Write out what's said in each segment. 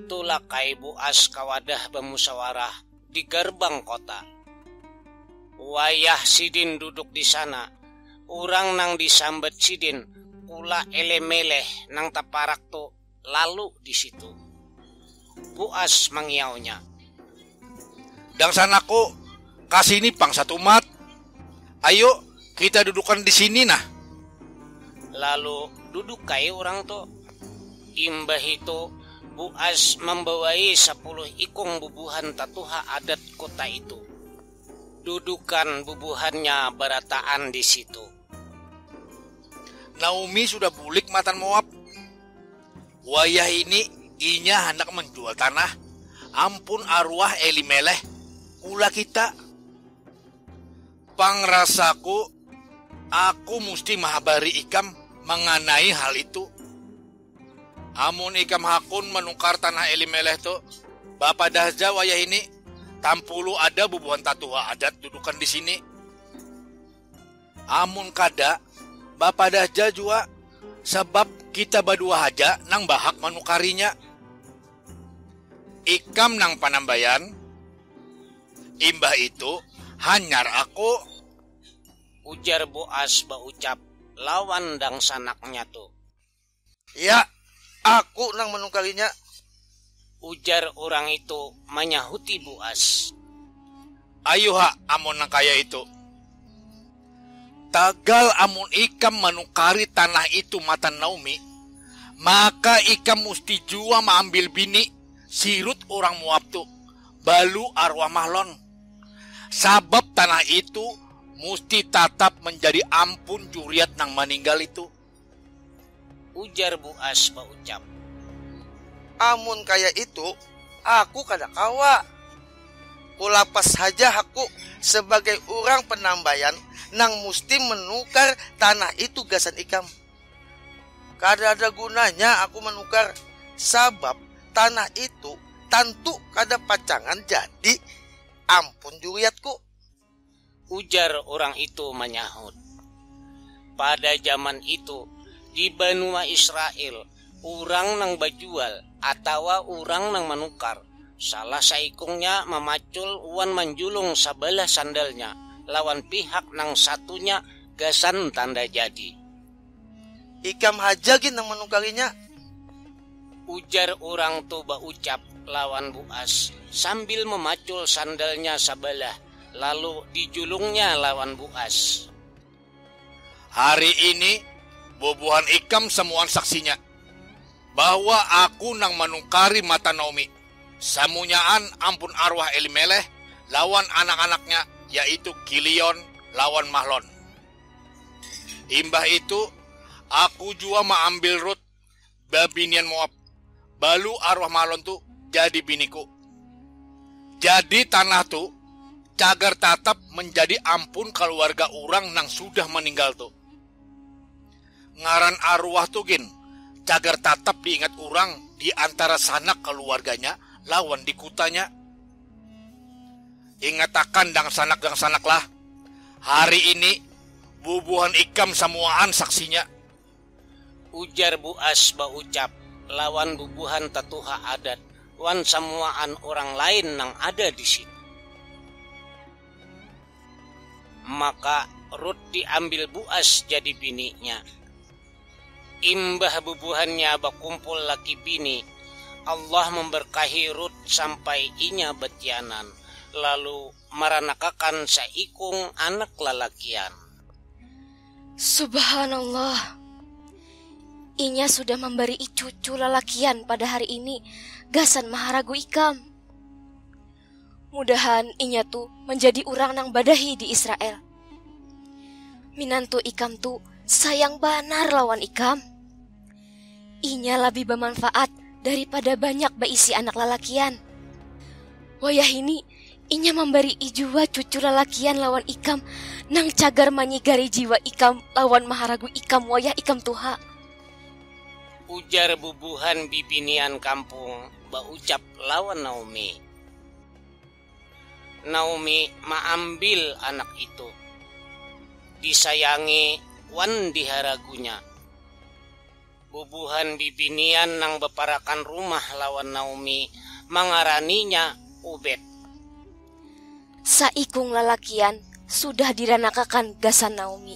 Tulak ai Buas ka wadah bamusawarah di garbang kota. Wayah sidin duduk di sana, urang nang disambat sidin Kula Elemeleh nang taparak tu lalu di situ. Buas mangiaunya. Dangsanaku, ka sini pang satumat. Ayu, kita dudukan di sini nah. Lalu duduk ai urang tu. Imbahitu, Buas mambawai sapuluh ikung bubuhan tatuha adat kota itu. Dudukan bubuhannya barataan di situ. Naomi sudah bulik matan Moab. Wayah ini inya handak manjual tanah, ampun aruah Elimeleh, ulah kita. Pang rasaku, aku musti mahabari ikam manganai hal itu. Amun ikam hakun manukar tanah Elimeleh tu, bapadah ja wayah ini, tampulu ada bubuhan tatuha adat dudukan di sini. Amun kada, bapadah ja jua sabab kita badua haja nang bahak manukarinya. Ikam nang panambayan, imbah itu hanyar aku. Ujar Boas baucap lawan dangsanaknya tu. Iya, aku nang manungkalinya. Ujar urang itu manyahuti Buas. Ayuha amun nang kaya itu. Tagal amun ikam manukari tanah itu matan Naomi, maka ikam musti jua maambil bini, si Rut urang Moab tu, balu arwah Mahlon. Sabab tanah itu musti tatap manjadi ampun juriat nang maninggal itu. Ujar Buas baucap, Amun kaya itu, aku kada kawa. Kulapas haja hakku sabagai urang panambayan nang musti manukar tanah itu gasan ikam. Kadada gunanya aku manukar, sabab tanah itu tantu kada pacangan jadi ampun juriatku. Ujar urang itu manyahut, Pada jaman itu, di banua Israel, urang nang bajual atawa urang nang manukar, salah saikungnya mamacul wan manjulung sabalah sandalnya lawan pihak nang satunya gasan tanda jadi. Ikam haja gin nang manukarinya. Ujar urang tu baucap lawan buas sambil memacul sandalnya sabalah lalu dijulungnya lawan buas. Hari ini bubuhan ikam samuaan saksinya bahwa aku nang manukari mata Naomi. Samunyaan ampun arwah Elimeleh lawan anak-anaknya yaitu Kilion lawan Mahlon. imbah itu aku jua maambil ruth babinian moab balu arwah malon tu jadi biniku jadi tanah tu cagar tatap menjadi ampun kaluarga urang nang sudah maninggal tu. Ngaran aruah tu gin cagar tatap diingat urang di antara sanak kaluarganya lawan di kutanya. Ingatakan dangsanak-dangsanaklah, hari ini bubuhan ikam samuaan saksinya. Ujar Bu As baucap lawan bubuhan tatuha adat wan samuaan urang lain nang ada di situ. Maka Rut diambil Buas jadi bininya. Imbah bubuhannya bakumpul laki bini, Allah memberkahi Rut sampai inya batianan, lalu maranakakan saikung anak lalakian. Subhanallah! Inya sudah mambarii cucu lalakian pada hari ini gasan maharagu ikam. Mudahan inya tu manjadi urang nang badahi di Israel. Minantu ikam tu sayang banar lawan ikam. Inya labih bamanfaat daripada banyak baisi anak lalakian. Wayahini inya mambarii jua cucu lalakian lawan ikam nang cagar manyigari jiwa ikam lawan maharagu ikam wayah ikam tuha. Ujar bubuhan bibinian kampung baucap. lawan Naomi. Naomi maambil anak itu. Disayangi wan diharagunya. Bubuhan bibinian nang baparakan rumah lawan Naomi mangaraninya Obed. Saikung lalakian sudah diranakakan gasan Naomi.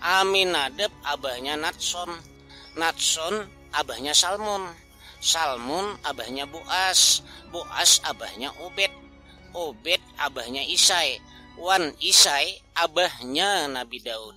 Aminadab abahnya Natson, Natson abahnya Salmon, Salmon abahnya Boas, Boas abahnya Obed, Obed abahnya Isai, wan Isai abahnya Nabi Daud.